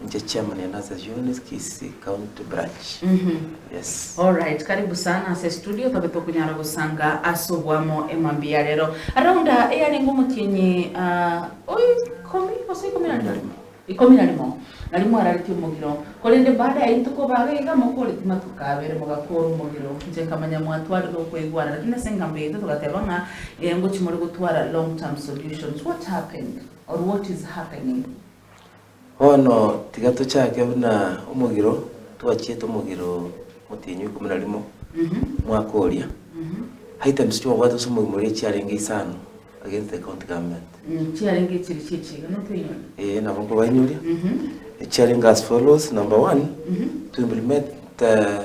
Inche chairman ya Nurses Unionist Kisii County Branch. Yes. All right, karibu sana ase estudio tobe tokonyara gosanga ase oboamo ema mbuya rero. Around aa eyarenge omotienyi ah, o ikomi gose ikomi na rimo? Ikomi na rimo. Nario mwararetie omogiro. Korende baada ya rituko babe iga mokoreti matuko abere mogakora omogiro. Inche nkamanya mwatwarire okoigwana lakini ase engambo yaito togateba ng'a eh, ngochi more gotwara long term solutions. What happened or what is happening? Bono tiga tochake buna omogiro twachiete omogiro motienyi ikomi na rimo omwaka oria. Items chi'obwate ase omogima oria chiarenge isano against the county government. Eeh, chiarenge echiri chi'echiega, notoinyore? Eeh, nabo nkobainyoria. Echiarenge as follows, number one, to implement the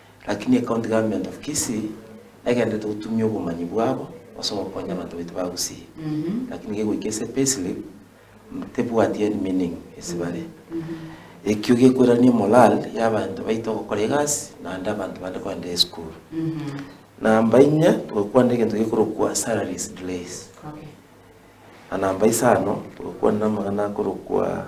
Lakini ecounty government of Kisii egenderete gotumia obomanyi bwabo ase ogokonya abanto baito ba Gusii, lakini gegoika ase payslip tebwati any meaning ase bare. Ekio gekoirania morale ya abanto baito ogokora egasi naende abanto bande kogenda esukuru. Namba inye togokwana egento gekorokwa salaries delays. Na namba isano togokwana amang'ana akorokwa.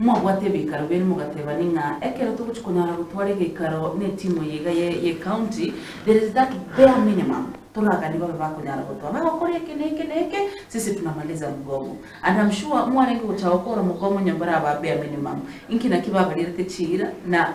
Mwabwate ebiikaro biane mogatebani ng'a ekero togochia konyara gotwara egeikaro n'etimu eye iga ye y'ecounty, there is that bare minimum toraganie babe bakonyara gotwara, bagokora eke na eke na eke, sisi tunamaliza mgomo. And I'm sure mwarenge gocha gokora mogomo onye mbaraba bare minimum, inki naki babarierete chiira na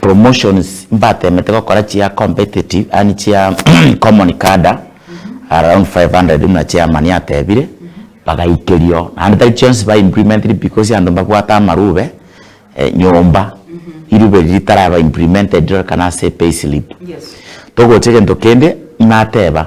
Promotions mbatemete gokora chia competitive yaani chia common cadre around 500 buna chairman atebire bagaikerio naende tari chionsi ba implemented because abanto mbabwate amarube nyomba irube riria ritaraba implemented rirorekane ase payslip togocha egento kende nateba.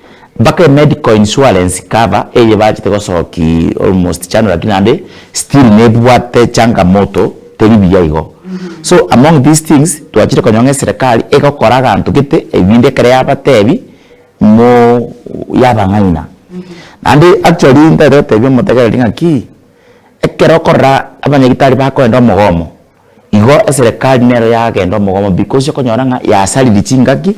Mpaka emedical insurance cover eye bachete gosoki almost chando lakini naende still nebwate changamoto teri buya igo. So among these things twachire konyora ng'a eserekari egokora aganto gete ebinto ekero yabatebi mo yabang'aina. Naende actually ntagete gotebia omotegereri ng'aki ekero okorora abanyagitari bakoenda omogomo. Igo eserekari nero yagenda omogomo because okonyora ng'a yasariri chingaki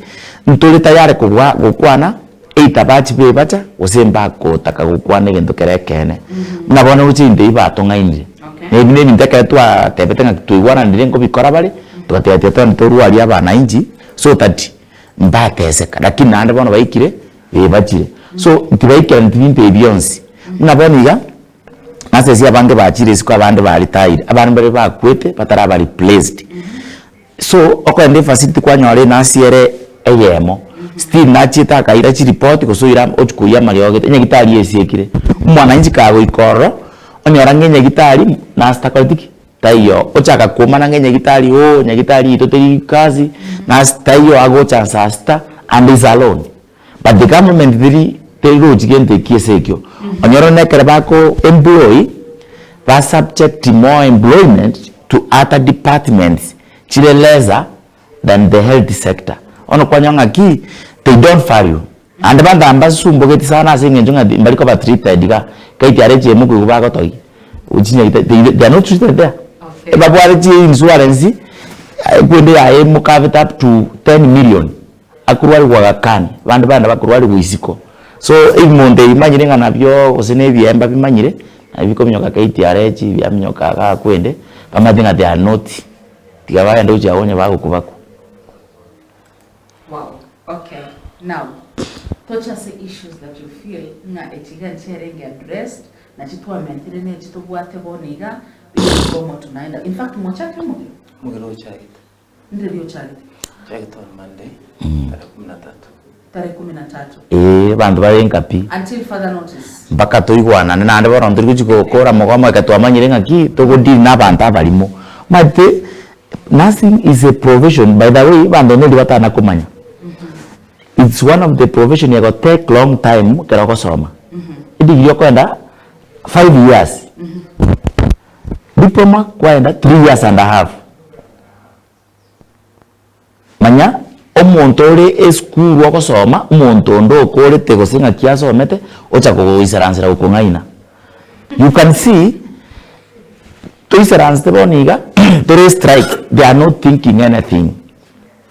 ntori tayari kogwa gokwana either bachibe ebacha gose mbagotaka gokwana egento kere ekeene buna bono roche intwe ebi batong'ainire ebi nebinto ekero twatebete ng'aki twaigwananire nkobikora bare togateba tiga twende torwa aria abananchi so that mbateseka lakini naende bono baikire eebachire so ntibaikereti binto ebi bionsi buna bono iga. Ase ese abange bachire isiko abande ba retire abande mbare bakwete bataraba replaced so okogenda efacility kwanyora ere ase ere eyemo still nachiete akaira chireport gose oira ochi koyia amariogo gete enyagitari esiekire omwananchi kagoika ororo onyora ng'a enyagitari nurse takoreti ki taiyo ochaka koumana ng'a enyagitari oo enyagitari eyito teri kazi nurse taiyo agocha nsa sita and is alone. But the government teri teri rochi gento ekio ase ekio, onyore buna ekero bako employ, ba subject more employment to other departments chire lesser than the health sector, bono kwanyora ng'aki they don't value naende abanto aba mbasumbogeti sana ase eng'encho ng'a mbari koba treated igaa, kai tiare echiemo koigwa bagotogia chinyagita they they are not treated there, ebabwate chi insurance ekwende yaye moka beta up to ten million. Akorwarigwa gakani, bande bane bakorwarigwa isiko. So ebimondo ebi manyire ng'a nabio gose na ebiemba bimanyire, nabio bikominyoka KTRH biaminyoka iga akwende, bamanyete ng'a they are not, tiga bagende gochia agwo onye bagoku bakwe. Wow, okay, now toche ase issues that you feel ng'a echi iga nchiarenge addressed, na chitwamentire na echi tobwate bono iga, bigokwa omotu naende, in fact mochake omogio? Omogio nochagete. Ee, abanto bare enka pi. Mpaka toigwanane naende bono ntori gochia gokora mogomo ekero twamanyire ng'a ki, togodeal na abanto abarimo. Omanyete, nursing is a profession, by the way, abanto neri batana komanya, it's one of the profession ego take long time ekero ogosoma. Edegree okoenda five years. Diploma kwaenda three years and a half. Manya omonto ore esukuru ogosoma, omonto onde okorete gose ng'aki asomete ocha kogoisaransera gokong'aina. You can see toisaransete bono iga tore strike they are not thinking anything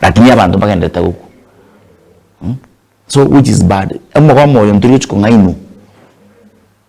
lakini abanto mbagendererete gokwa so which is bad. Omogomo oyo ntorigochia kong'ainwa.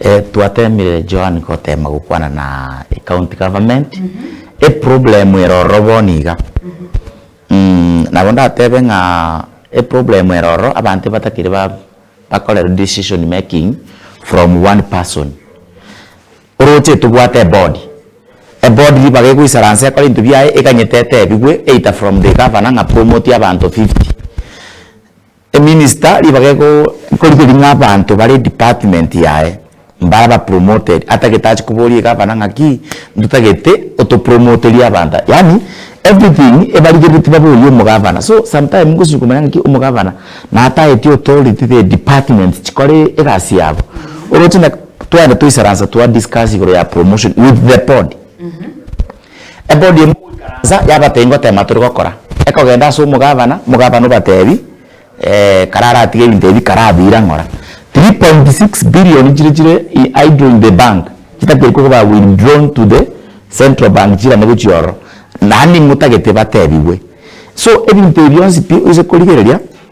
Eh twatemire Joan gotema gokwana na ecounty government eproblem ere ororo bono iga nabo ndatebe ng'a eproblem ere ororo abanto batakiri ba bakorerwa decision making from one person oroche tobwate eboard, eboard ribaga egoisaransa ekore ebinto biaye eganyete etebigwe either from the governor ng'a promote abanto fifty. Eminista ribaga ekorigeria ng'a abanto bare edepartment yaye mbaraba promoted atagete ache koboria egavana ng'aki ndotagete otopromoterie abanto yaani everything ebarigereti baborie omogavana so sometime ngochia komanya ng'aki omogavana natageti authority the department chikore egasi yabo oroche na tware toisaransa twa discuss igoro ya promotion with the board. Ebodi emo goikaransa yabata ingo tema tori gokora. Ekogenda ase omogavana, omogavana obatebi kare aratige ebinto ebi kare abira ng'ora. Three point six billion chire chire idle in the bank chitagete koba withdrawn to the central bank chirane gochia ororo. Naende nigo otagete batebigwe. So ebinto ebi bionsi pi oise korigereria.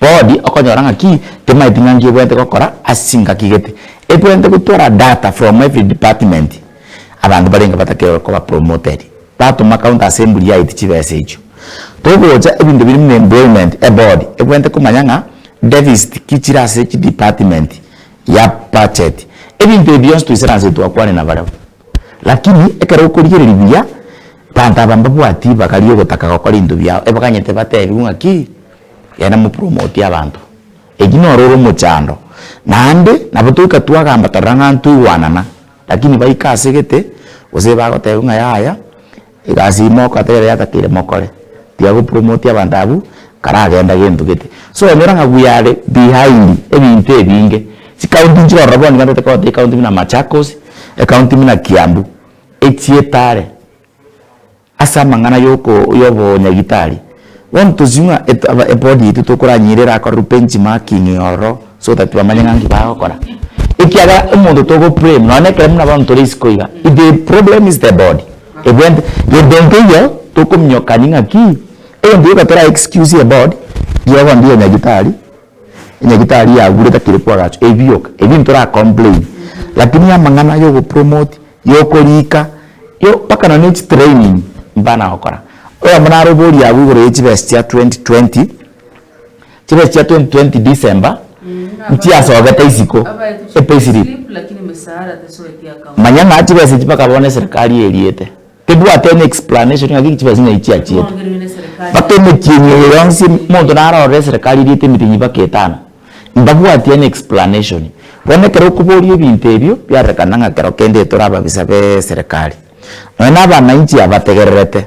Bodi okonyora ng'aki timaeti ng'anki ebwenerete gokora ase ngaki gete. Ebwenerete gotwara data from every department abanto barenge batakerwe koba promoted. Batoma counter ase emburi yaito chibesa echio. Togocha ebinto biri buna employment ebodi ebwenerete komanya ng'a deficit ki chire ase chi department ya budget. Ebinto ebi bionsi twaisana nse twakwane nabarabwo. Lakini ekero okorigereria buya, banto aba mbabwati bagarie ogotaka gokora ebinto biao, ebaganyete batebiwe ng'aki, genda mopromote abanto. Eki noro ore omochando. Naende, nabo toika twagamba torora ng'a ntoigwanana, lakini baika ase egete, gose bagotebiwa ng'a yaya, Egasi ime okateba ere yatakeire mokore, tiga go promote abanto abwo karagenda gento gete. So onyora ng'a we are behind ebinto ebinge. Chi county nchire ororo bono nigo ntagete kogoteba ecounty buna Machakos, ecounty buna Kiambu, echietare ase amang'ana yoko yobonyagitari, Bono tosie ng'a aba eboard yaito tokoranyire erakorerwe bench marking ororo so that bamanye ng'a nki bagokora ekiagera omonto togo blame nonye ekero buna bono tore isiko iga the problem is the board ebwente gento nkeiyo tokominyokani ng'aki egento gioka tora excuse eboard rirogondia nyagitari. Enyagitari yagure takiri kwagacha ebioka ebi ntora complain lakini amang'ana yogo promote yokoriika yo mpaka nonye ne chitraining mbana gokora oyombe naro oboria abwo igoro ye chibesa chia 2020 chibesa chia 2020 December nchiasogete isiko epayslip manya ng'a chibesa echi mpaka bono eserikari eriete. Tebwate any explanation ng'aki chibesa naye chiachiete. Mpaka emetienyi eye yonsi monto narorire eserekari eriete emitenyi mpaka etano. Mbabwati any explanation. Bono ekero okoboria ebinto ebio biarekana ng'a kero kende tore ababisa b'eserekari. Nonya na abanainchi abategererete.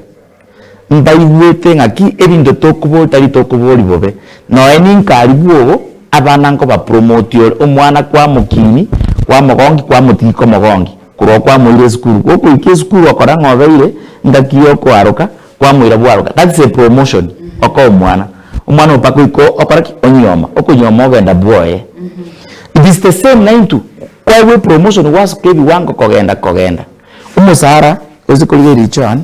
Mbaigwete ng'aki ebinto tokoboria tari tokoboria bobe. Noe ninka aria bwogo abana nkobapromotia ore omwana kwamokiini kwamogongi kwamotigia komogongi. Korwa kwamoire esukuru gokoikia esukuru okora ng'a obeire ngaki y'okoaroka kwamoira bwaroka that's a promotion oka omwana omwana oyo mpaka oiko okora ki? Onyioma okonyioma ogenda bwoye it is the same nainto kwaigwa epromotion gwasoka ebiwango kogenda kogenda omosara oise korigereria Joan.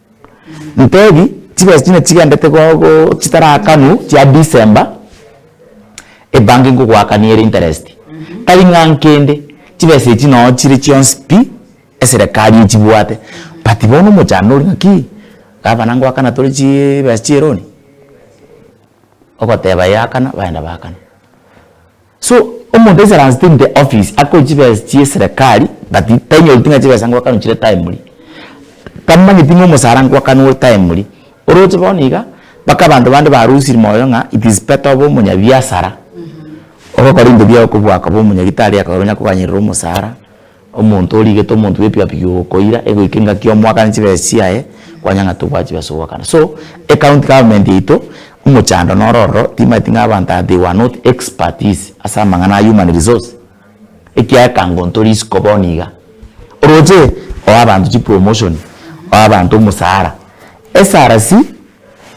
Ntebi chibesa chinde chigendete gogo chitarakanwa chia December ebanki ngogoakania ere interest tari ng'a nkende chibesa echi noo chire chionsi pi eserekari echibwate but bono omochando ore ng'aki gavana ngoakana tore chibesa chia eroni ogoteba yakana baenda bakana. So omonto aise aransete inte office akore chibesa chie serekari but tanyoreti ng'a chibesa ngoakanwe chire timely, tamanyeti ng'a omosara ngoakanwe timely, oroche bono iga mpaka abanto bande barosirie moyo ng'a it is better obe omonyabiasara ogokora ebinto biago kobua koba omonyagitari ekero onya koganyerera omosara. Omonto origete omonto bwebiabi biokoira egoika engaki omwaka ne chibesa chiaye kwanyang'ata okoa chibesa ogokana so ecounty government yaito omochando noro ororo timaeti ng'a abanto aba they were not expertise ase amang'ana a human resource ekiagera ekango ntori isiko bono iga oroche oe abanto chipromotion oe abanto omosara SRC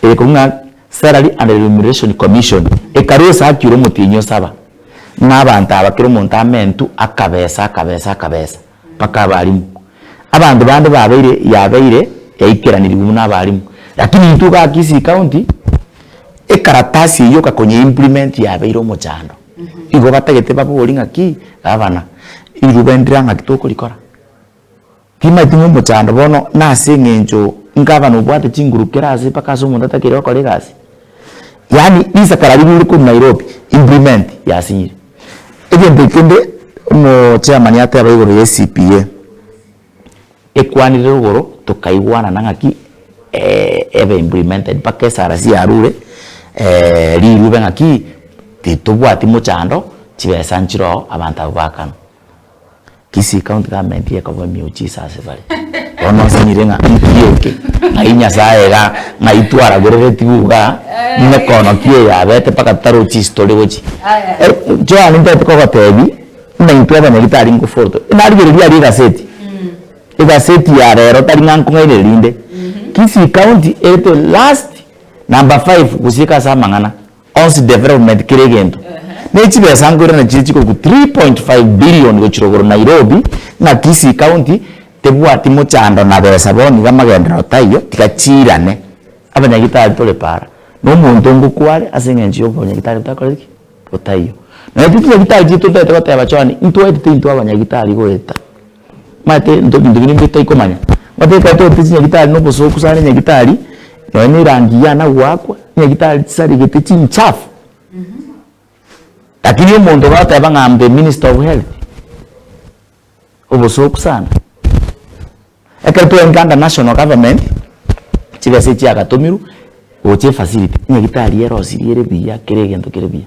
ere korwa ng'a Salary and Remuneration Commission ekarusa akire omotienyi osaba ng'a abanto aba kera omonto amentu akabesa akabesa akabesa mpaka abalimu. Abanto bande babeire yabeire yaikeranirigwe buna abalimu lakini intwe iga Kisii County ekaratasi eyio okakonya implement yabeire omochando igo batagete babori ng'aki gavana riruba ndira ng'aki tokorikora. Timaeti momochando bono nase eng'encho nkaba nobwate chinguru kera ase mpaka ase omonto atakeire gokora egasi. Yaani risakara riria rire korwa Nairobi implement yasinyire. Egento kende omo chairman ateba igoro ye CPA ekwanire igoro tokaigwanana ng'aki ebe implemented mpaka esrc yarure rirube ng'aki titobwati mochando chibesa nchire oo abanto aba bakanwa. Kisii County Government ekoba emiujiza ase bare. Bono nsinyire ng'a nki eke? Ng'ai Nyasaye iga ng'ai twaragerereti buu iga nekono ki eye abete mpaka totarochi ase tori gochi. Joan ntaete kogotebi buna intwe abanyori tari ngofoto. Narigereria aria egaseti, egaseti ya rero tari ng'a nkong'aina erinde. Kisii County ere the last number five gochika ase amang'ana Onsi Development kera egento ne chibesa nkoirana chire chikoruku 3.5 billion gochira igoro Nairobi ng'a Kisii County tebwati mochando na besa bono iga amagenderero taiyo tiga chiirane abanyagitari tore para nomonto ngokware ase eng'encho yobonyagitari botakoreti ki? botaiyo. Naende chinyagitari chiaito ntoete goteba Joan intwaetete intwe abanyagitari goeta Omanyete into ebinto biria mbire toikomanya, omanyete ekero togoteba chinyagitari na obosooku sana enyagitari, nonya na erangi ya ane goakwa, enyagitari chisaregete chinchafu, lakini omonto goteba ng'a am the minister of health, obosooku sana. Ekero twaika under national government, chibesa echi chiagatomirwe gocha efacility, enyagitari erosirie ere buya, kera egento kere buya.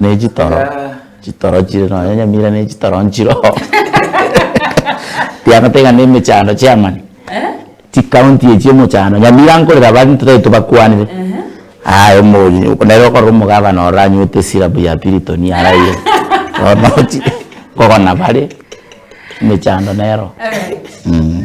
Ne chitoro chitoro chire nonya nyamira ne chitoro nchire oo tiamanyete iga ne emechando chiamani chi county echi omochando nyamira nkorera abande totari tobakwanire aye omori nere okorora omogabana ororo anywete esyrup ya piriton araiyo bono ochi kogona bare emechando nero mh.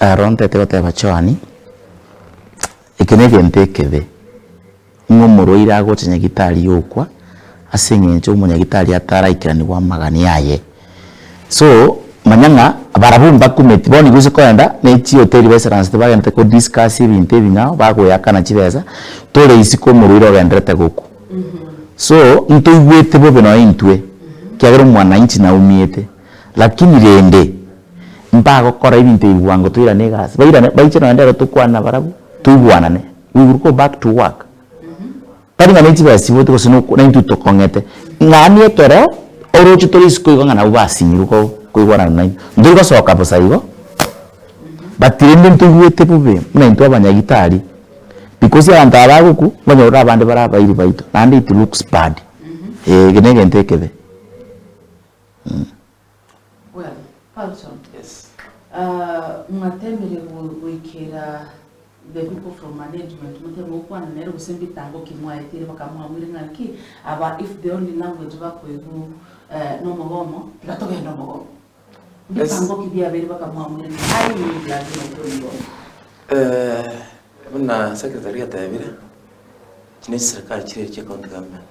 Aro ntaete goteba Johani, eke negento ekebe, ng'a omorwaire agocha nyagitari yokwa, ase eng'encho omonyagitari ataraikiranigwa amagani aye. So, manya ng'a barabwo mbakumeti bono igo ase kogenda ne chihoteli baisaransete bagenderete ko discuss ebinto ebi ng'a bagoeakana chibesa, tore isiko omorwaire ogenderete gokwa. So, ntoigwete bobe nonya intwe, ekiagera omwanainchi naumiete, Lakini rende, mbagokora ebinto ebi bwango toirane egasi, bairane, baiche nonya nere tokwane nabarabwo, toigwanane, we will go back to work. Tari ng'a nechibesa chiboete gose noku naintwe tokong'ete, ng'ani ekero oroche tore isiko igo ng'a nabwo basinyirwe ko koigwanana naintwe, ntori gosoka bosa igo, but rende ntoigwete bobe buna intwe abanyagitari, because abanto aba bagokwa, mbanyorire abande bare abairi baito, naende it looks bad, eh, eke negento ekebe. Well, Paulson, mwateemire goikera the people from management motebe gokwana nere gose mbitango ki mwaetire bakamwamuire ng'a nki aba if the only language bakoigwa nomogomo tiga togende omogomo. Mbitango ki biabeire bakamwamuire ng'a aye nigo ogiagera intwe omogomo? Buna secretary ateebire, echi ne chiserikari chiria chia county government.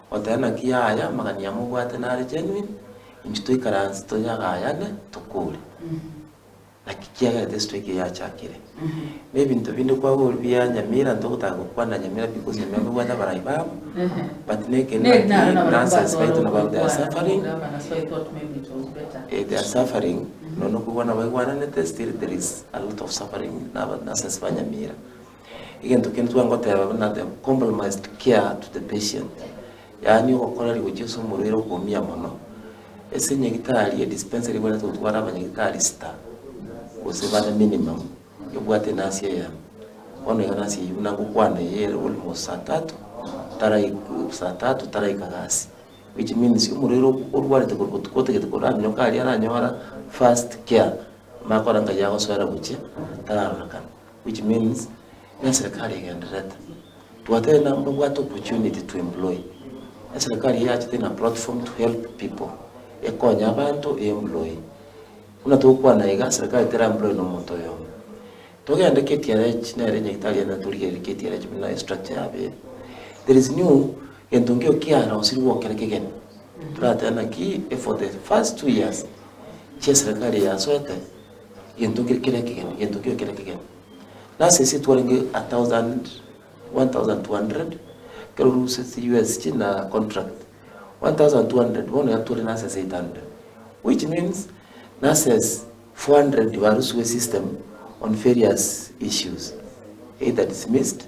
Goteba naki yaya amagana ya mobwate nare genuine, inche toikaranse toyagayane tokore naki kiagera tesi twaikia yachakire. Ne ebinto binde kwagorwa bia nyamira ntogotaka gokwana nyamira because nyamira nobwate abarai babo but nekende naki nonsense baito nabo they are suffering eh they are suffering nonya okobua nabaigwananete still there is a lot of suffering na nonsense ba nyamira. Egento kende togana goteba buna the compromised care to the patient, yaani ogokora rigochia ase omorwaire okomia mono. Ase enyagitari edispensary ebwenerete gotwara abanyagitari sita gose bana minimum, ebwate enurse eyemo. Bono iga nurse eyio buna gokwana eye ere almost saa tatu tarai saa tatu taraika gasi, which means omorwaire o- orwarete korwa botuko otagete koraminyoka aria aranyora first care, amanye kora ng'ai agosoera gochia tararorekana. Which means neserikari egendererete twatete na babwate opportunity to employ eserikari eyachete in a platform to help people ekonye abanto e employ buna togokwana iga serikari tera employ na omonto oyomo togende KTRH nere nyagetari ere natorigereria KTRH buna estructure yabo ere there is new gento nkio kiarosirwe gokera kegeni toratebe naki for the first two years chia eserikari eyasoete. Gento kere kere ekegeni, gento kere kere ekegeni. Nase ase twarenge a thousand, one thousand two hundred, ekero oruseti US chire na contract, one thousand two hundred bono iga tore nase ase eight hundred, which means nase ase four hundred barusiwe system on various issues, either dismissed,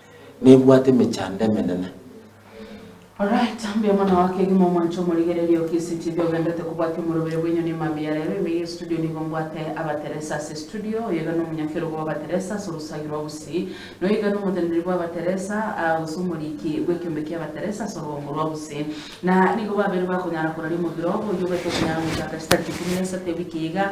Nebwate emechando emenene. Rora, etambe omwana wao kegima omwanche omorigererie o KCTV ogendete kobwatia omorobire bw'enyoni emambia ya rero ime y'estudio nigo mbwate abateresa ase estudio, oyoiga nomonyakerogo bw'abateresa ase orosagi rwa Gusii, na oyoiga nomoteneneri bw'abateresa, aa, gose omoriiki bw'ekiombe ki'abateresa ase orogombo rwa Gusii. Na nigo babere bakonyara koraria omobiro obo, oyio obe tokonyara goika agachia tariki ikomi na isato ewiki eye iga,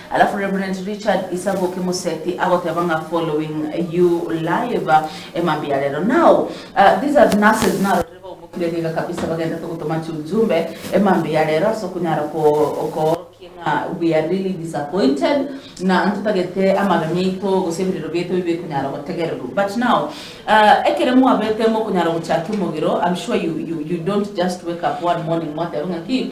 Alafu Reverend Richard Isaboki Musethi agoteba ng'a following you live emambia ya rero now these are nurses narorire baumokire riga kabisa bagendete gotoma chiujumbe emambia ya rero ase okonyara koorokia ng'a we are really disappointed na ntotagete amaremi aito gose ebirero biaito bibe bikonyara gotegererwa but now ekero mwabete mokonyara gochaka omogiro I'm sure you don't just wake up one morning mwateba ng'aki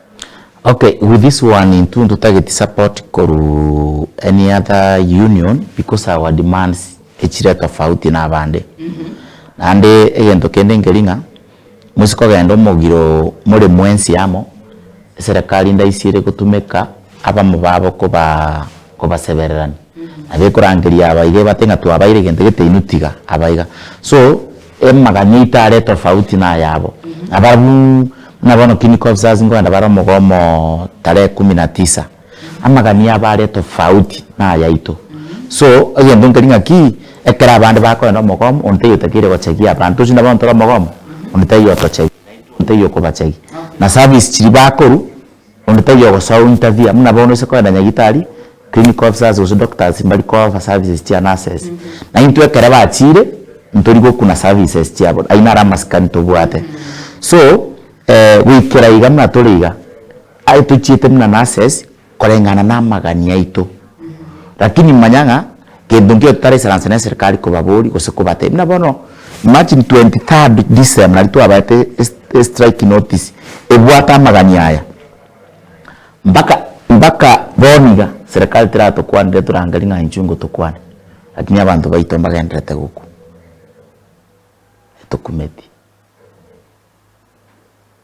Ok with this one intwe ntotageti support korwa any other union because our demands echire tofauti na abande naende egento kende nkeri ng'a mosie kogenda omogiro more mwensi amo eserekari ndaisiere gotumeka abamo babo koba kobasebererania nabo ekorangeria aba iga ebate ng'a twabaeire egento gete inwe tiga aba iga so. Emaganya ito are tofauti nayabo. Abarabwo buna bono King Kobzars nkorenda bare omogomo tarehe kumi na tisa. Amagani yabo are tofauti nayaito. So egento nkeri ng'aki ekero abande bakorenda omogomo onde taiyo otakeire gochagia abanto. Tochi buna bono tore omogomo onde taiyo otochagia naintwe onde taiyo okobachagia. Na service chiria bakorwa. Onde tari ogosoa o interfere buna bono ase kogenda nyagitari, clinic officers gose doctors mbari kofa services chia nurses. Na intwe ekero bachire ntori gokuna services chiabo ayio naro amasikani tobwate. So goikera iga buna tore iga, aye tochiete buna nurses koreng'ana na amagani aito. Lakini manya ng'a gento nkio totara esaranse na eserikari kobabori gose kobatebia. Buna bono imagine twenty third December nari twabaete e strike notice ebwate amagani aya mpaka mpaka bono iga serikari teratokwanire torangerie ng'a inchuo ingotokwane lakini abanto baito mbagenderete gokwa etokumeti.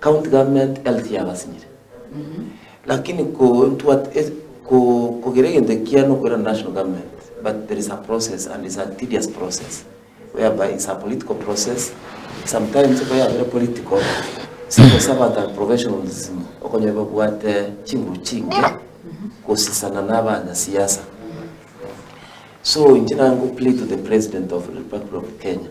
County government health yabasinyire lakini ko ntwate e ko kogera egento ekiya nokoirana national government but there is a process and is a tedious process whereby is a political process sometimes ekero yabire political sigose abanto are professionals okonyora babwate chinguru chinge gosisana na abanya siasa so inche naye ngo plead to the president of republic of Kenya.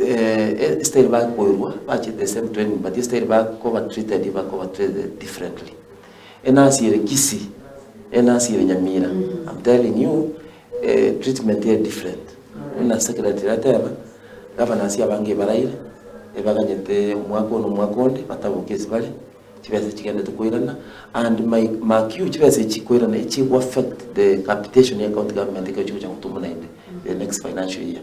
Ee, esitairi bakoirwa bache the same training but esitairi bakoba treated bakoba treated differently. Enasi ere Kisii, enasi ere Nyamira, I'm telling you, eh, treatment ere different. Buna secretary ateba, governors abange ebaraire, ebaganyete omwaka one omwaka onde, bataboke ase bare, chibesa chigendete koirana, and my mark you, chibesa echi koirana echi egoaffect the capitation ya county government ekero chigocha gotumwa naende the next financial year.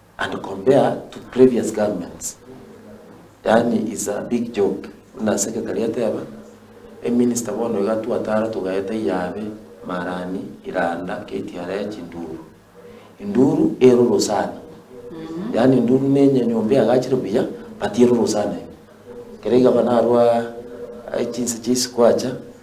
and compare to previous governments yaani is a big job buna secretary ateba eminister bono iga twatara togaeta iyabe marani iranda ktra chinduru induru eroro sana yaani induru ne nyanyomba eagachire buya but eroro sana ime kere igaba narwa chinse chia isiko acha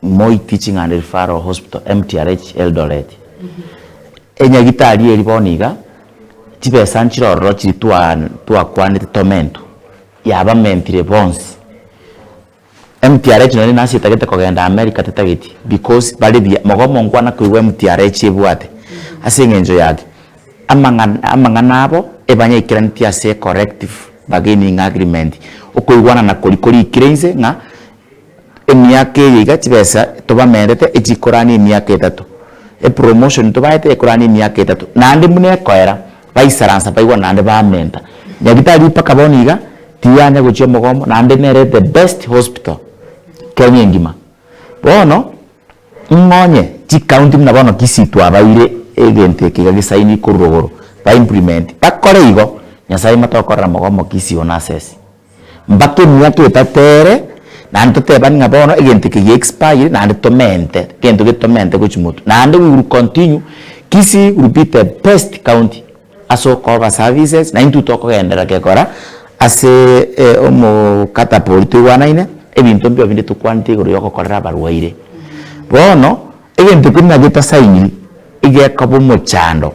Moi Teaching and Referral Hospital, MTRH, Eldoret. Enyagitari eri bono iga, chibesa nchirororo chiri twa twakwanete Tormento, yabamentire bonsi. MTRH nonye nase etagete kogenda America tetageti because bare buya. Mogobe monkwana koigwa MTRH ebwate ase eng'encho yaki, amang'ana amang'ana abo ebanyaikeranitie ase corrective bargaining agreement, okoigwanana kori korikire inse ng'a. Emiaka eye iga chibesa tobamerete echikorania emiaka etato, epromotion tobaete ekorania emiaka etato, naende buna ekoera baisaransa baigwa naende bamenta. Nyagitari mpaka bono iga tiyanya gochia omogomo naende nere the best hospital Kenya engima. Bono ing'onye chicounty buna bono Kisii twabaire egento eke iga gesainiwe korwa igoro ba implement bakore igo, Nyasae motokorera mogomo Kisii one access. Mpaka emiaka etato ere, naende totebani ng'a bono egento eke gi expire naende tomente, egento gete tomente gochi moto, naende we will continue, Kisii will be the best county ase okoba services, na intwe tokogenderera gekora aseeee omokataba oria toigwanaine, ebinto mbio binde tokwanete igoro yogokorera abarwaire. Bono egento kende nabo etasainiri, egekaba omochando.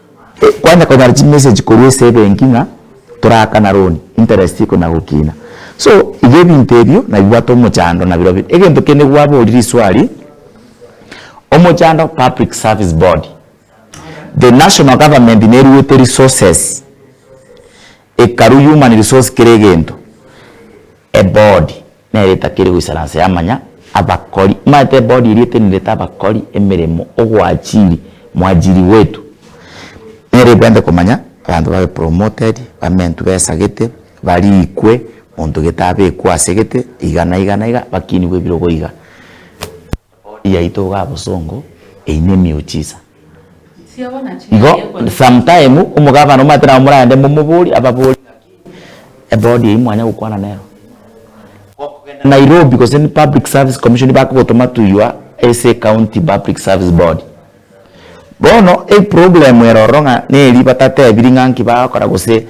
Kwanja konyara chimessage korwa ase ebenki ng'a torakana loan, interest iko na gokina. So iga ebinto ebio nabibwate omochando nabirobio bire. Egento kende gwaborire iswari, omochando public service board, the national government neruete resources. Hekalu human resource kera egento eboard nero etakiri goisaransa yamanya abakori omanyete eboard eria etenerete abakori emeremo ogoachiri mwajiri wetu nero ebwenerete komanya abanto babe promoted bamentwe besagete barikwe monto gete abekwe asegete iga na iga na iga bakinigwe ebirogo iga. yaito iga abosongo eine miujiza. Igo some time omogabana omanyete nabo moragende momoborie ababori ngaki eboard eyio mwanya gokwana nero gokogenda Nairobi gose public service commission bakogotoma tuywa ase county public service board bono eproblem ere ororo ng'a neri batatebiri ng'a nki bagokora gose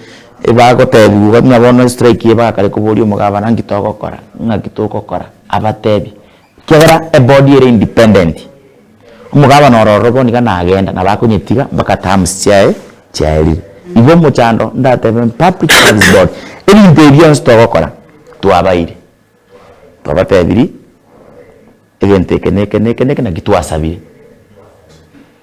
bagotebiwa gaki ng'a bono strike eye bagakare koboria omogabana ngaki togokora ngaki togokora abatebie Ekiagera ebody ere independent. Omogabana ore ororo bono iga nagenda nabo akonyetiga mpaka terms chiaye chiaerire. Igo omochando ndatebe in public service board ebinto ebi bionsi togokora twabaire twabatebirie egento eke na eke na eke na eke naki twasabire.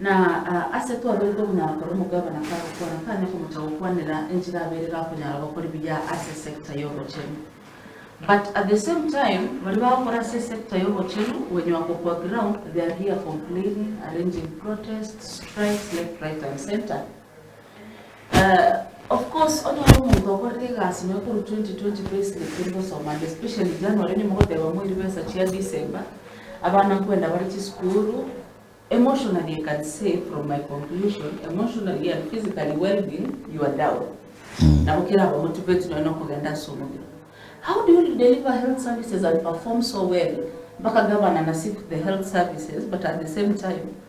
Na ase twaroirwe buna agakora omogabana kagokwana kanya komocha gokwanera enchera abeire gakonyara gokori buya ase sector yobochenu but at the same time baria bagokora ase sector yobochenu gwenywa ko kwa ground they are here complaining arranging protests strikes left right and centre Of course onye ore omonto okorire egasi nonya korwa 2020 payslip tori gosoma and especially January onye mogoteba moiri besa chia December, abana nkwenda bare chisukuru, emotionally I can say from my conclusion, emotionally and physically well-being you are down. Nabo keraba motivate nonya nokogenda ase omobere. How do you deliver health services and perform so well mpaka governor na seek the health services but at the same time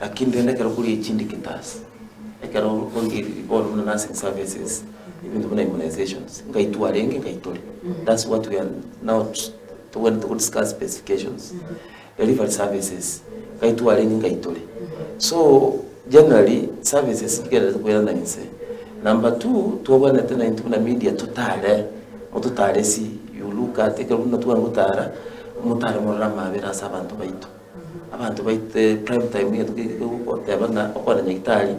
Lakini rende ekero kore echinde getaas, ekero oige ri bono buna nursing services, ebinto buna immunisations, ngaitwa arenge ngaitore, that's what we are not tobwenerete go discuss specifications. Delivery services, ngaitwa arenge ngaitore. So, generally, services chigererete koirana inse. Number two, twabwenerete na intwe buna media totare, mototare esi you look at ekero buna tware gotara, motare morore amabera ase abanto baito. Abanto baite prime time egento keria kegogoteba ng'a okwana nyagitari,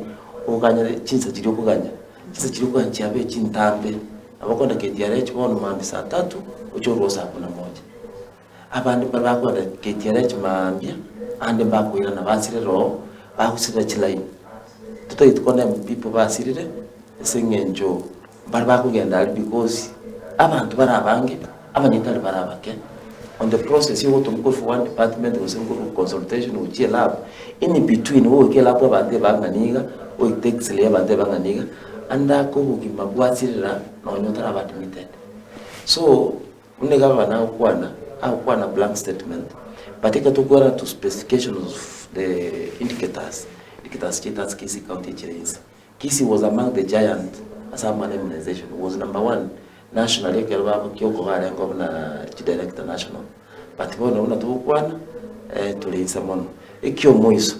oganyere chinsa chiria okoganya, chinsa chiria okoganya chiabe chintambe. Nabo okogenda KTRH bono maambia saa tatu, oche orue saa kumi na moja. Abande mbare bakogenda KTRH maambia, ande mbakoirana basirere oo, bagosirera chilaini. Totagete kogenda mbu people basirire ase eng'encho. Baria bakogenda aria bikosi abanto bare abange, abanyene tari bare abake, on the process y'ogotomwa korwa one department gose nkorwa consultation gochia elab, in between goika elab abanto ebang'ani iga, goika te x-ray abanto ebang'ani iga, ande ake obogima bwasirira nonye otaraba admitted. So buna iga abana agokwana, agokwana blank statement, but ekero tokwerana to specifications of the indicators, indicators chiaito ase KCC county echire inse. Kisii was among the giant ase amang'ana immunization, was number one nationally ekero bamokia okobarengeo buna chi director national but bono buna togokwana eh tore inse mono. Ekiomoiso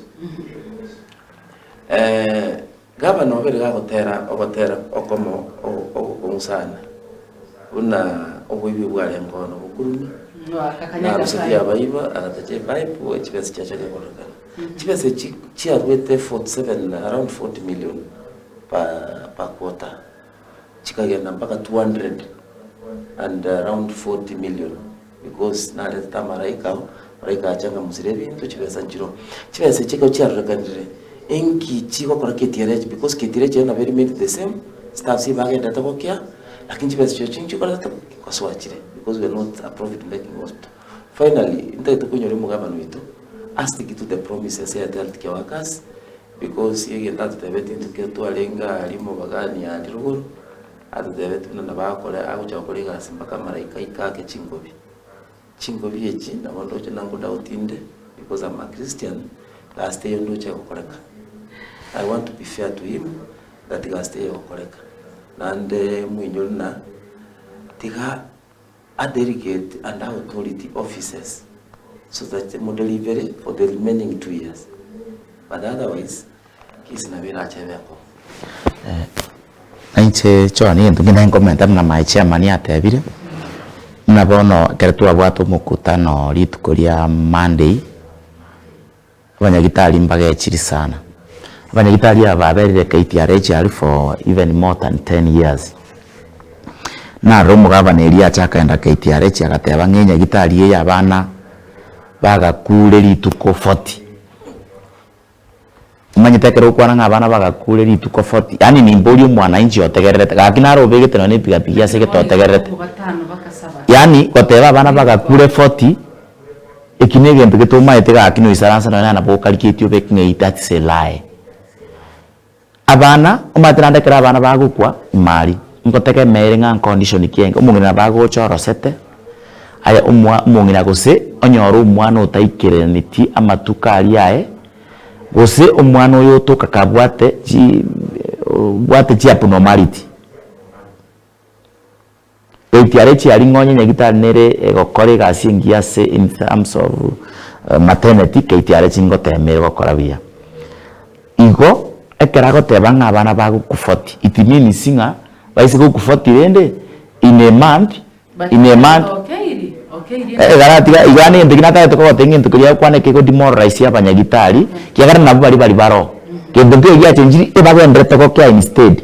eh gavana obo riga agotera ogotera okomo ogokong'u sana buna oboibi bwarengeo bono bokurumi, Noaka kanya na arusetie Nyasae. abaiba agatacha epipe chibesa chiacha gekorekana. Chibesa echi chiaruete 47 around 40 million per quarter chikagenda mpaka 200 and around 40 million because naretete amaraika ao, amaraika ache akamosira ebinto chibesa nchiroo. Chibesa echi ekero chiarorekanire enki chigokora ketiere echi because ketiere echi nabo eri made the same, staffs eye bagenderete gokea lakini chibesa echirochio nchikorete gosoa chire because we are not a profit making hospital. Finally, ntagete konyora omogabane oito astic to the promises ya Thealth kia Workers because egento atotebetie intokio twarenge aria omobagani aria rogoro atotebetie buna nabo akore agocha gokora egasi mpaka amaraika aike ake chingobi. Chingobi echi nabo ndoche na ngodouti inde because am a Christian gasi teiyo ndoche gokoreka. I want to be fair to him that gasi teiyo egokoreka. Naende moinyore buna tiga A delegate and authority offices so that mo delivery for the remaining two years but otherwise case nabo erache ebe enkong'u. Nainche John egento ngende ngomenta buna my chairman atebire, buna bono ekero twabwate omokutano rituko ria Monday. Abanyagitari mbagechiri sana. Abanyagitari aba baberire KTRH aria for even more than ten years. Narora omogabana erio achakenda KTRH agateba ng'a enyagitari eye abana bagakure rituko forty. Omanyete ekero okwana ng'a abana bagakure rituko forty, yaani nimbe ori omwanainchi otegererete, gaki naro obegete nonye na epigapigi ase egete otegererete. Yaani goteba abana bagakure forty. Eki negento getomaete gaki noisaransa nonya na nabo okariketi obe ekng'ei that's a lie. Abana omanyete naende ekero abana bagokwa imari ngotega emeeri ng'a condition ki enge omong'ina nabo agocha orosete aye omwa omong'ina gose onyore omwana otaikereneti amatuko aria aye gose omwana oyo otoka kabwate chi obwate chiabnormality. Ekiare chia ring'onya nyagitari nere egokora egasi engiya ase in terms of maternity keitiare chingotemeire gokora buya. Igo ekero agoteba ng'a abana bagoku forty it means ng'a baise goku forty rende in a month in a month igaratiga iga egento ekio natagete kogotebia ng'into keria ogokwana ekego demoralize abanyagitari kiagera nabo baria bari baroo gento nkeiyo giachenchiri ebagenderete gokea instead.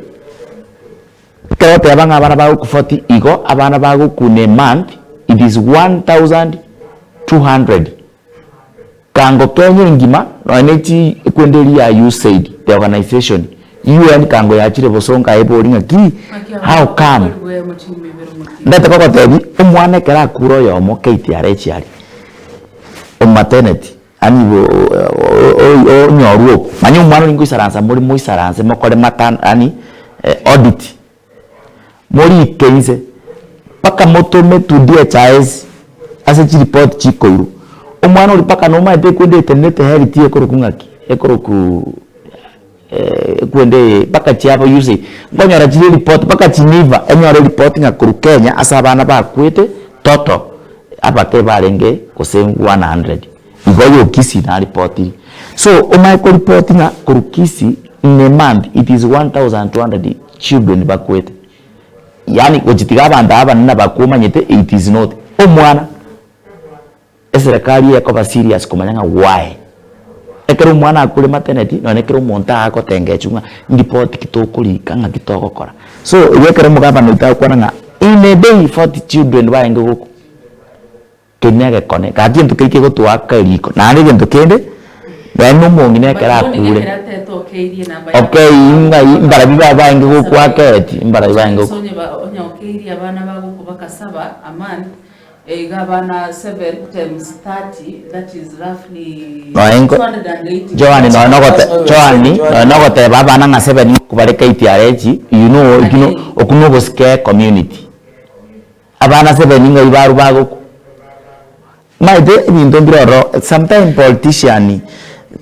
Ekero oteba ng'a abana bago ku forty igo abana bago ku ne month it is one thousand two hundred kango Kenya engima nonya ne chi kwende eri ya USAID the organization UN kango yachire bosonga ebori ng'a ki how come ndete kogotebi omwana ekero akure oyomo KTRH aria omo maternity. Yaani igo onyorwe oo, manya omwana oria ngoisaransa more moisaranse mokore matern yaani audit, morike inse mpaka motome to DHIS ase chireport chikoirwa, omwana oria mpaka nomanyete ekwende etenenete health ekorokwa ng'aki, ekorokwa. Kwende ee mpaka chiabo usa nkonyora chiri report mpaka chiniva enyore report ng'a korwa Kenya ase abana bakwete total abake barenge gose 100 igo yo Kisii na repotiri so omanye ko report ng'a korwa Kisii in a month it is 1200 children bakwete yaani gochitiga abanto abanene abakwo omanyete it is not omwana. Eserekari eye ekoba serious komanya ng'a gwaye. Ekero omwana akure maternity nonye ekero omonto aagotengechwa ng'a ripoti ki tokorika ng'aki togokora. So igo ekero omogabana oito agokwana ng'a in a day forty children barenge gokwa, keri negekone gaki gento keria kegotoaka eriko. Naende egento kende, nonye na omong'ina ekero akure, okeiyi ng'ai mbarabwo babo barenge gokwa akeeti, mbarabwo barenge gokwa. Egabana seven times thirty, that is roughly Nonya inko- two hundred and eighty Johani nonya nogote- Johani nonya nogoteba abana ng'a seven ng'aki bare KTRH, you know eki no- oku nobosike community. Abana seven ng'ai barwa bagoku maete ebinto mbire ororo sometime politician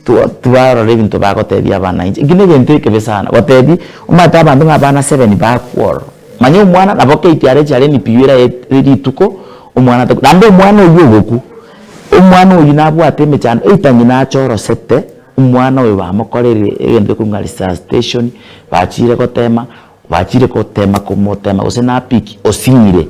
twa- twarora ebinto bagotebia abana inche, eki negento ekebe sana, gotebi omanyete abanto ng'a abana seven bakwa ororo. Manya omwana nabo kate are chare emipiyo ere ere rituko omwana ataku naende omwana oyio ogokwa omwana oyio nabwate emechando either ng'ina achorosete omwana oyo bamokorire egento gekorwa ng'a resuscitation bachiire gotema bachiire gotema komotema gose na pick osing'ire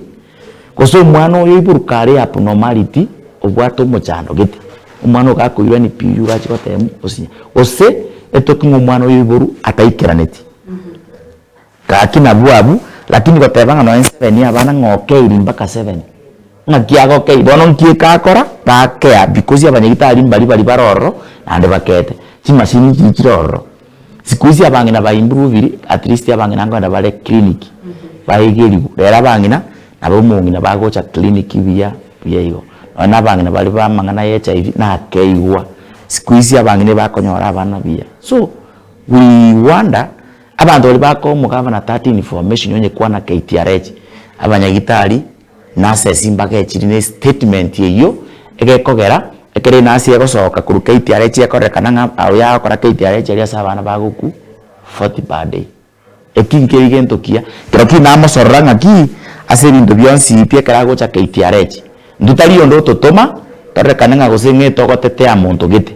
gose omwana oyo oiboruka are abnormality obwate omochando gete omwana oyo gakoirwa emipiyo eywo gachia goteemwa osinye gose etoke ng'a omwana oyo oiboru ataikeraneti. Gaki nabwo abwo, lakini goteba ng'a nonya seven yabana ng'a okeiri mbaka seven, ng'aki agokei bono nki ekakora? Gakea because abanyagitari mbari bari bare ororo naende bakeete, chimasini chiri chire ororo. Siku hizi abang'ina ba improviri at least abang'ina nkoenda bare clinic baegerigwe, rero abang'ina nabo omong'ina bagocha clinic buya buya igo. Nonya na abang'ina bare bamang'ana ya HIV nakeigwa, siku hizi abang'ina ebakonyora abana buya so we wonder. Abanto baria bakomoka abana 13 information onye kwana KTRH abanyagitari nase esimbaga echiri ne statement eyio egekogera ekero enasi egosoka korwa KTRH ekorerekana ng'a oyio agokora KTRH aria ase abana bagoku 40 per day eki nkeri gento kiya ekero ki namosorora ng'aki ase ebinto bionsi pi ekero agocha KTRH intwe tari onde ototoma torerekane ng'a gose ng'ete ogotetea monto gete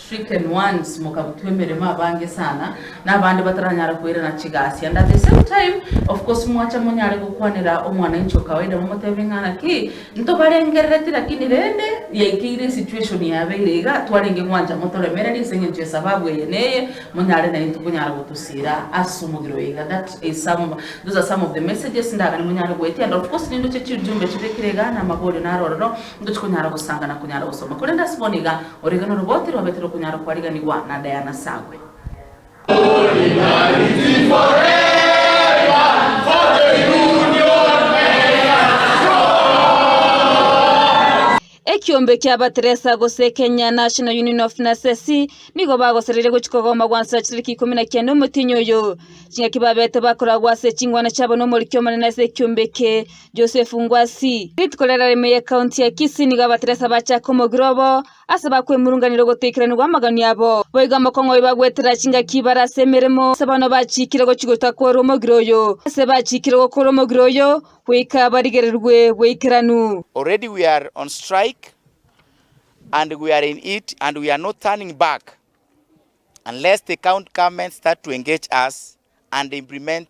stricken ones, mokabutwa emeremo abange sana, na abande bataranyara koirana chigaasi, and at the same time of course mwacha monyare gokwanera omwananchi o kawaida momotebe ng'a naki ntobarengerereti lakini rende yaikeire esituation yabeire iga twarenge gwancha motoremererie ase eng'encho esababu eye na eye monyare naintwe konyara gotosiira ase omogiro oye iga that is some those are some of the messages ndagane monyare goetia and of course nindoche chirjumbe chibekire igaa na amaborio naro ororo ntochi konyara gosanga na konyara gosoma korende ase bono iga Origano robo tirobete rokonyara kwariganigwa na Diana Sagwe. Ekiombe kia Bateresa gose Kenya National Union of Nurses nigo bagosereria gochia kogoma gwansa chitariki ikomi na kiane omotienyi oyo. Ching'aki babete bakoragwa ase chingwana chiabo nomoriki omonene ase ekiombe eke Joseph Ngwasi, rituko riarare ime ye county ya Kisii nigo abateresa bacha komogira obo ase bakwemurunganera ogotekeranigwa amagani abo. Boigo amokongo oyo bagwetera chingaki bare ase emeremo ase bono bachikire gochi goita kore omogira oyo ase bachikire gokora omogira oyo goika barigererigwe bweikeranu. Already we are on strike and we are in it and we are not turning back unless the county government start to engage us and implement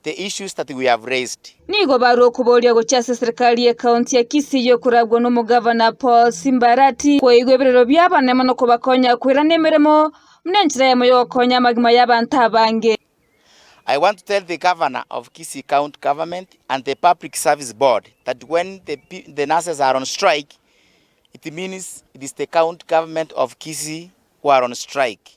the issues that we have raised. Nigo barwa okoboria gochia ase eserikari ye county ya Kisii eyokoragwa na omogavana Paul Simbarati koigwa eberero bi'abanene mono kobakonya koirana emeremo buna enchera yamo yogokonya amagima y'abanto abange. I want to tell the Governor of Kisii County Government and the Public Service Board that when the, the nurses are on strike, it means it is the county government of Kisii who are on strike.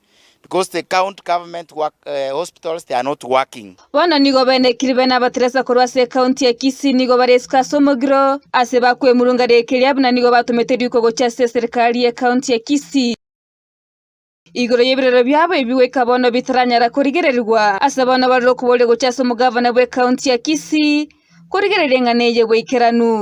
Because the count government work, uh, hospitals they are not working. Bono nigo bene kiribe na abateresa korwa ase ekaunti ya Kisii nigo baresuka ase omogiro ase bakwemurunga riika eria buna nigo batomete riko gochia ase eserikari y'ekaunti ya Kisii igoro y'ebirero biabo ebi goika bono bitaranyara korigererigwa ase bono barore okoboria gochia ase omogavana bw'ekaunti ya Kisii korigereria eng'ana eye bwaikeranu.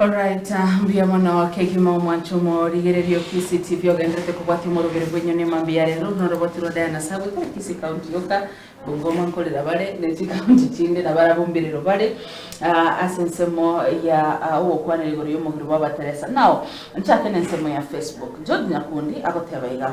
Alright, mbuya mono kegima omwancho omo rigereria ofisi TV ogenderete kobwatia omorogeri bwenyu ne mambi ya rero noroboti rwa Diana Sabwe tari Kisii County yoka Bungoma nkorera bare ne chi county chinde na barabwo mbirero bare ah, ase ensemo ya ah, ogokwanera igoro y'omogiro bwa Bateresa. Now, nchake ne ensemo ya Facebook. George Nyakundi agoteba iga.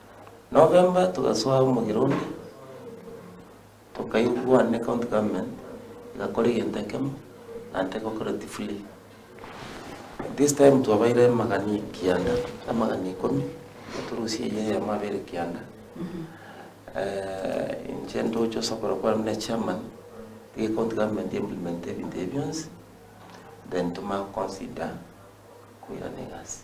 November togasoa omogera onde, tokaigwana ne county government egakora egento ekemo naende egokora oti free. This time twabaeire amagani kianda, amagani ikomi, eturusia eye eyemo abeire kianda inche ndoche ase okorwa kware buna echairman, tiga ecounty government e implemente ebinto ebi bionsi, then tomanye go consider koirana egasi.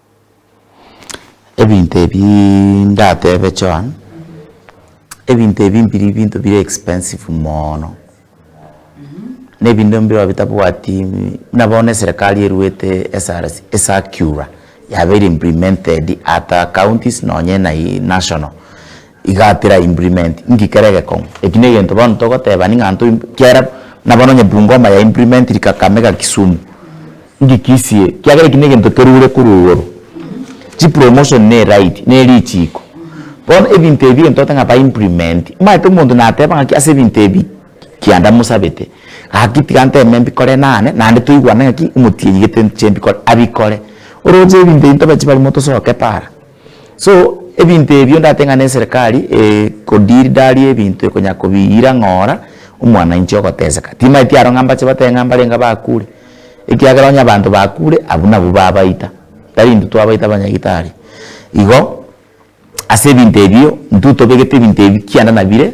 Ebinto ebiiii ndatebe Joan, ebinto ebi mbiri binto bire expensive moono, na ebinto mbirobio bitabwati buna bono eserekari eruete esara esakura yabeire implemented at a counties nonye na ii national, igatera implement nki kere egekong'u, eki na egento bono togoteba ning'a ntoimp kiara buna bono onye Bungoma ya implementiri Kakamega Kisumu. Inki kisie? Kiagera eki negento kerure korwa igoro. Chi promotion ne ride ne richiiko. Bono ebinto ebi egento togotebiga ba implement, omanyete omonto nateba ngaki ase ebinto ebi kianda mosabete, gaki tiga nteme mbikore nane naende toigwane ngaki omotienyi gete nche mbikore, abikore. Oroche ebinto ebi ntobe chibari motosoke para. So ebinto ebio ndatee ng'a neserekari ekodeal daria ebinto ekonya kobiira ng'ora omwanainchi ogoteseka. Timaeti aro ng'a mbache batebe ng'a mbarenge abakure, ekiagera onye abanto bakure abwo nabwo babaita, tari intwe twabaita abanyagitari. Igo ase ebinto ebio intwe tobegete ebinto ebi kianda nabire.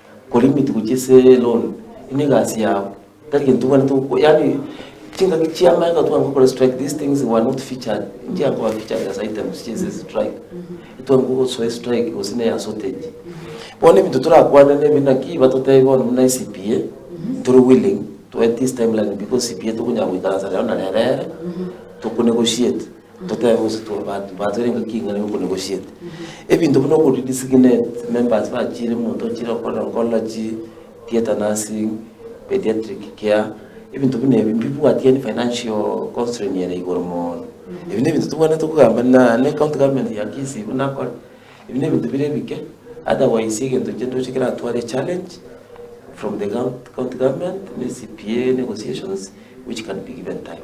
Korimi togochia ase loan, ime egasi yao, tari gento obwanete gokora, yaani chingaki chi'amagega tware gokora strike, these things were not featured, nchiaga koba featured as items chia ase strike, etware gosoa estrike gose ne ya shortage. Bono ebinto torakwane nebi naki batotebia bono buna CPA, tore willing to wait this timeline because CPA tokonyara goikaransa rero na rero ere, tokonegotiate. Totebe gose tore baanto baancha rende ngaki ing'ana nigo konegosiete. Ebinto buna okori designate members bachiire omonto ochire gokora nkorora chi theatre nursing, pediatric care, ebinto buna ebi mbibwati yaani financial constrain ere igoro mono. Ebi na ebinto tobwenerete kogamba na ne county government ya Kisii buna akore, ebi na ebinto bire ebike, otherwise egento inche ndoche keratware echallenge from the county government, ne CPA, negotiations which can be given time.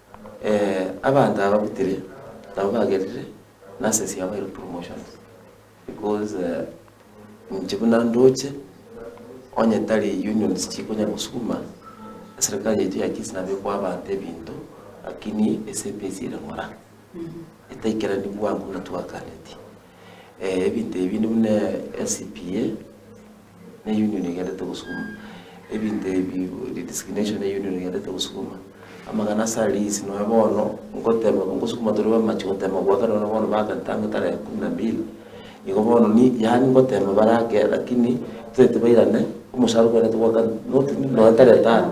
abanto aba butire nabo bagerire nase ase yabaire promotions because inche buna ndoche onye tari unions chikonya gosukuma, eserekari yaito ya Kisii nabo ekoa abanto ebinto lakini ase ebesi ere ng'ora, etaikerani bwango buna twaganetie. Ebinto ebi buna NCPA. Ne union egenderete gosukuma ebinto ebi redesignation ne union egenderete gosukuma amang'ana ase are lease nonya bono ngotema ngosukuma tore bamachi gotema goaka nonya bono baaka tangu tarehe kumi na mbili nigo bono ni yaani ngotema barake lakini totaete bairane omoshahara okwenerete goaka not nonya tarehe tano.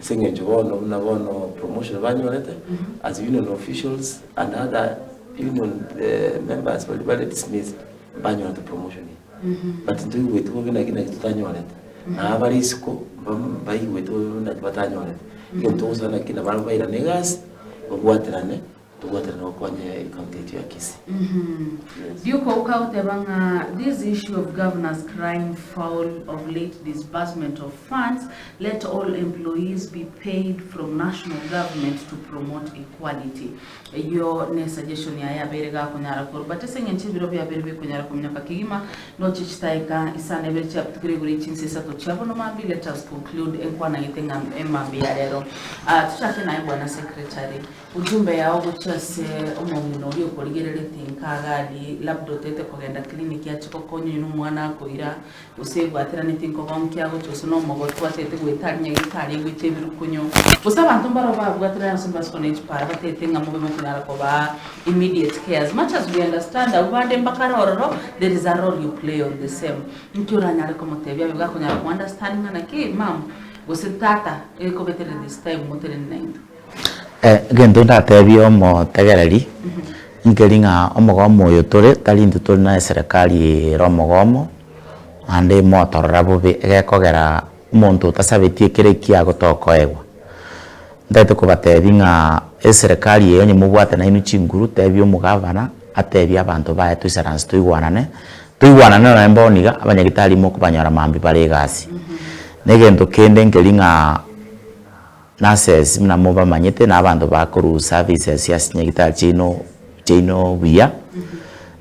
Ase engencho bono buna bono promotion banyorete as union officials and other union members baria bare dismissed mbanyorete promotion eye. But ntoigweti bobe naki naki totanyorete. Na abare isiko mbam- mbaigweti bobe buna naki batanyorete. Egento togosaba naki nabare bairane egasi, babwaterane. Tobwatane gokonya yaye county yaito ya Kisii. Duke Ouka goteba ng'a this issue of governors crying foul of late disbursement of funds, let all employees be paid from national government to promote equality. Eyio ne suggestion yaye abeire gakonyara korwa but ase eng'encho ebiro biabeire bikonyara kominyoka kegima noche chitaeka isano ebere chiabutukire igoro ye chinsa isato chia bono mambia let us conclude enkwanagete ng'a emambia ya rero. Tochake naye bwana secretary. Ujumbe yao gochia ase omong'ina oria okorigereretie nka Gadi, labda otaete kogenda clinic ache kokonya oyio nomwana akoira, gose ebwateranetie nkoba onke agocha gose nomogotu ataete goeta ari nyagetari aigwete ebirukunyo, gose abanto mbarabwo babwaterane gose mbase kona echipara bataete ng'a mobe mokonyara kobaa immediate care. As much as we understand abwo bande mbakare ororo, there is a role you play on the same. Inki oranyare komotebia abe gakonyara ko understand ng'a naki mum gose tata ekobetereri this time motenene naintwe? egento ndatebie omotegereri, nkeri ng'a omogomo oyo tore tari intwe tore na eserekari ere omogomo, naende emotorora bobe egekogera omonto otasabeti ekero ekiya igo tokoegwa. Ntagete kobatebi ng'a eserekari eye onye mobwate nainwe chinguru tebia omogavana atebie abanto baye toisaranse toigwanane, toigwanane nonye bono iga abanyagitari mokobanyora mambia bare egasi. Na egento kende nkeri ng'a. Nurses, buna mobamanyete, nabanto bakoruu services ase chinyagitari chiaino chiaino buya,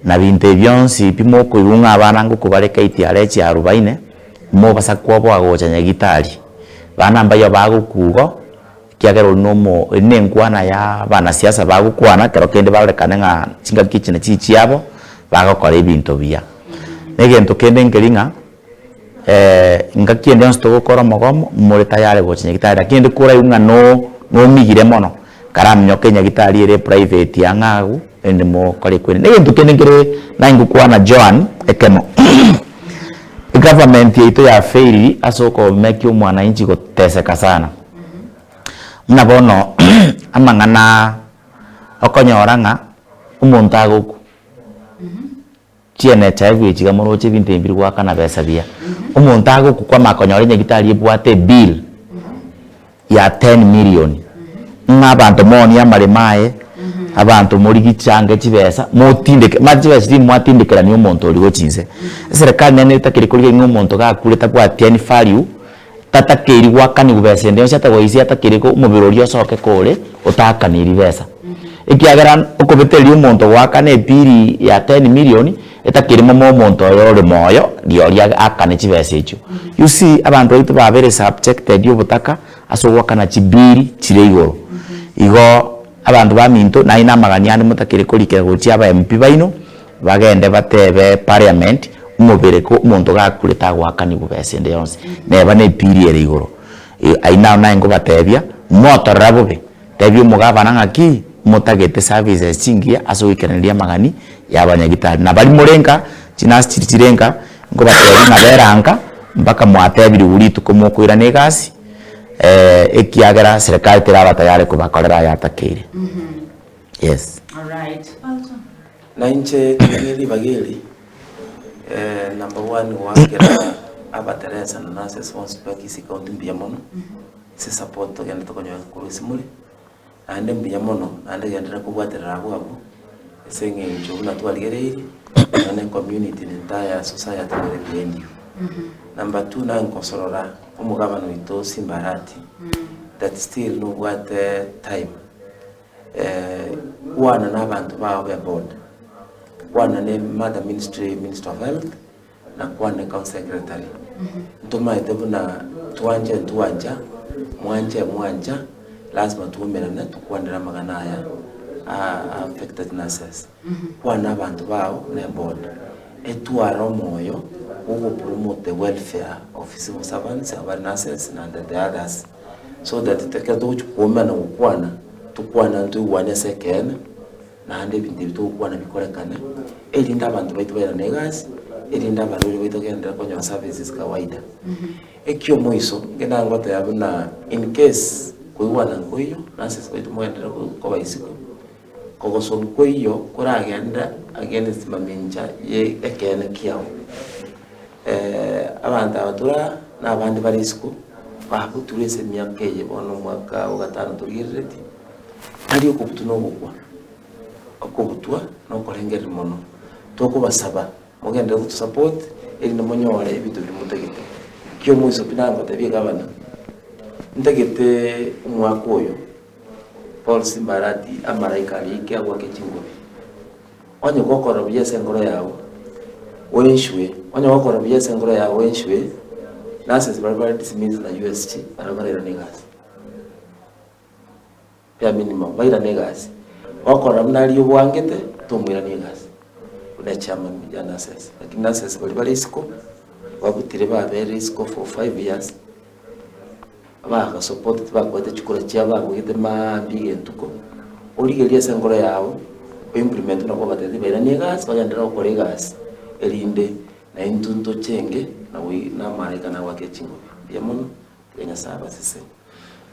na binto ebi bionsi pi mokoigwa ng'a abana ngokobareka etiara echia arubaine, mobasa koboa gocha nyagitari, bana mbayio bagokwa igo, ekiagera oria nomo eri nenkwana ya banasiasa bagokwana kero kende barorekane ng'a chingaki echi nachichiabo, bagokora ebinto buya. Egento kende nkeri ng'a. ngaki ende yonsi togokora omogomo more tayari gocha nyagetari lakini rende koraigu ng'a no nomigire mono karaminyoke nyagetari ere private ang'e agwo rende mokore kwene. Na egento kende nkere nanye ngokwana Joan ekemo egovernment yaito ya fail ase okomekia omwanainchi goteseka sana buna bono amang'ana okonyora ng'a omonto agokwa. Chiene chaye bwe chiga moroche ebinto ebi biri goakana besa biya. Omonto age okokwama akonyora enyagitari ebwate ebill ya ten million, ng'a abanto moonie amaremo aye, abanto morigie chiange chibesa, motindeke, mara chibesa echi tindi mwatindekerania omonto origo chinse. Eserekari nene etakeri korigia ng'a omonto gakurete abwatiani value Tatakeiri gwakanigwa besa ende yonsi atagoisia atakeiri omobere oria osoke kore otaakaniri besa. Ekiagera okobetereria omonto goakana epiri ya ten million etakeiri momo omonto oyo ore moyo riori aakane chibesa echio. You see abanto baito babere subjected obotaka ase ogoakana chibill chire igoro. Igo abanto baminto naende namagani ande motakeire korikera gochia aba MP baino Bagende bateebe Parliament, Omobere ko omonto gakure tagoakanigwa besa ende yonsi, neba ne piri ere igoro. Aye nao naye ngobateebia, motorera bobe. Teebia omogabana ng'aki motagete services chingiya ase ogoikanereria amagani y'abanyagitari. Na baria more nka, chinasi chiria chire nka, nkobateebia ng'a bera nka mpaka mwateebirigwe rituko mokoirana egasi, ekiagera serikali teraba tayare kobakorera aya atakeire. Yes. Na inche nere ribaga eri, eh, number one goakera abateresa na nurses bonsi ba Kisii County mbuya mono, ase support togenda tokonyora korwa ase more, naende mbuya mono, naende genderera kobwaterera abwo abwo, ase eng'encho buna twarigereiri, nonya ne community ne entire society nere bendi iga. Number two nare ngosorora omogabana oito Simba Arati, that still nobwate time. Kwana nabanto bao beboda, kwana ne Mother Ministry, Minister of Health, na kwana ne County Secretary. Ntomaete buna twanche ntwancha, mwanche mwancha, lazima twaumerane tokwanere amang'ana aya a affected nurses. Kwana abanto bao neboda. Etware omoyo bw'ogopromote welfare of civil servants abare nurses naende the others so that ekero togochia koumana gokwana tokwane ande toigwane ase ekeene naende ebinto ebio togokwana bikorekane erinde abanto baito bairane egasi erinde abarwaire baito bagenderere konyora services kawaida. Ekiomoiso ngenda goteba buna incase koigwana nkoiyo nurses baito mogenderere koba isiko. Ogosomu kw'eyio koragende against mamincha ye ekeene kiao. Abanto aba tora nabande bare isiko bagoturwa ase emiaka eye bono omwaka o gatano torigereretie, tari okobutu na ogokwa, okobutwa na okorengereria mono. Tokobasaba mogenderere gotu support erinde monyore ebinto biria motagete. Ekio omoiso pi nagotebie gavana, ntagete omwaka oyo Bonsi mbarati amalaika aria ike agwake chingobi. Onye gokora buya ase enkoro yao, oenchwe, onye gokora buya ase enkoro yao oenchwe, nurses baria bare dismissed na USG barabwo barairana egasi. Bare minimum, bairane egasi. Gokora buna aria obwangete, tomoirani egasi, buna chairman ya nurses. Lakini nurses baria bare isiko, babutire babeire isiko for five years. Abagasopote tibakwete chikura chiabo bagogete mambia egentuko, origereria ase enkoro yao o implement buna kwabatebete bairanie egasi bagenderere gokora egasi erinde naye intwe ntoche enge na namaraika nagwake chinguru. Mbuya mono, tiga Nyasae abasese.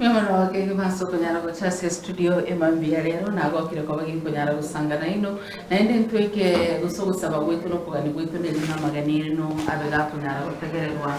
Nigo nabake gima ase okonyara gocha ase estudio e mambia ya rero, nagokire koba ginkonyara gosanga naino, naende intwe eke gose ogosaba gwaito na okogania gwaito nerinde amagena aino abe gakonyara gotegererwa.